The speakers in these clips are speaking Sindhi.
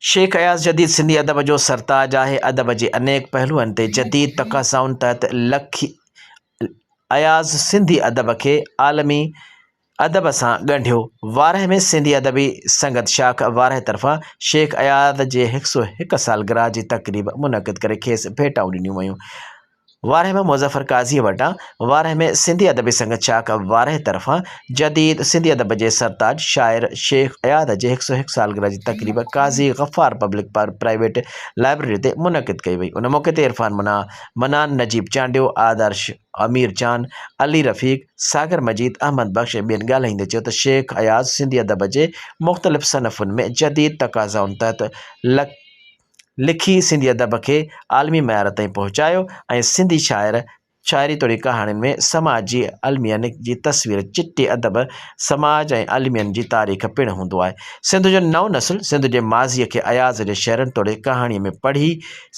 شيخ اياز جديد سنڌي ادب جو سرتاج آهي. ادب جي انيڪ پهلوئن تي جديد تقاضائن تحت لکي اياز سنڌي ادب کي عالمي ادب سان ڳنڍيو. وارهه ۾ سنڌي ادبي سنگت شاخ وارهه طرفان شيخ اياز جي هڪ سؤ هڪ سالگرهه جي تقريب منعقد ڪري کيس ڀيٽائون ڏنيون ويون. وارهه ۾ مظفر قاضيء وٽان وارهه ۾ سنڌي ادبي سنگت چاڪ وارهه طرفان جديد سنڌي ادب جي سرتاج شاعر شيخ اياز جي هڪ سؤ هڪ سالگرهه جي تقريب Qazi Ghaffar public private library تي منعقد ڪئي وئي ان موقعي تي عرفان منا، منان، نجيب چانڊيو، آدرش، امير چاند، علي رفيق، ساگر مجيد، احمد بخش ۽ ٻين ڳالهائيندي چيو ته شيخ اياز سنڌي ادب جي مختلف صنفن ۾ جديد تقاضائن تحت لک لکي سنڌي ادب کي عالمي معيار تائين پهچايو ۽ سنڌي شاعر شاعري توڙي ڪهاڻين ۾ سماج جي المين جي تصوير چٽي ادب سماج ۽ المين جي تاريخ پڻ هوندو آهي سنڌ جو نئون نسل سنڌ جي ماضي کي اياز جي شعرن توڙي ڪهاڻي ۾ پڙهي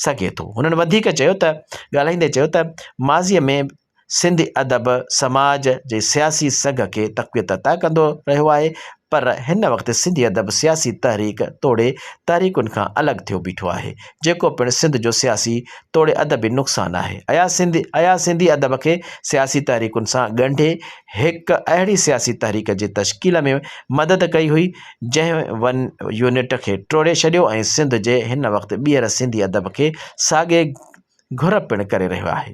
سگهي ٿو هنن وڌيڪ چيو ته ڳالهائيندي چيو ته ماضي ۾ سنڌي ادب سماج جي سياسي سگهه کي تقويت عطا ڪندو رهيو آهي، پر هن وقت سنڌي ادب سياسي تحريڪ توڙي تحريڪن کان الڳ ٿيو بيٺو آهي، جيڪو پڻ سنڌ جو سياسي توڙي ادبي نقصان آهي. اها سنڌي ادب کي سياسي تحريڪن سان ڳنڍي هڪ اهڙي سياسي تحريڪ جي تشڪيل ۾ مدد ڪئي هئي، جنهن ون يونٽ کي ٽوڙي ڇڏيو ۽ سنڌ جي هن وقت ٻيهر سنڌي ادب کي ساڳي گهر پڻ ڪري رهيو آهي.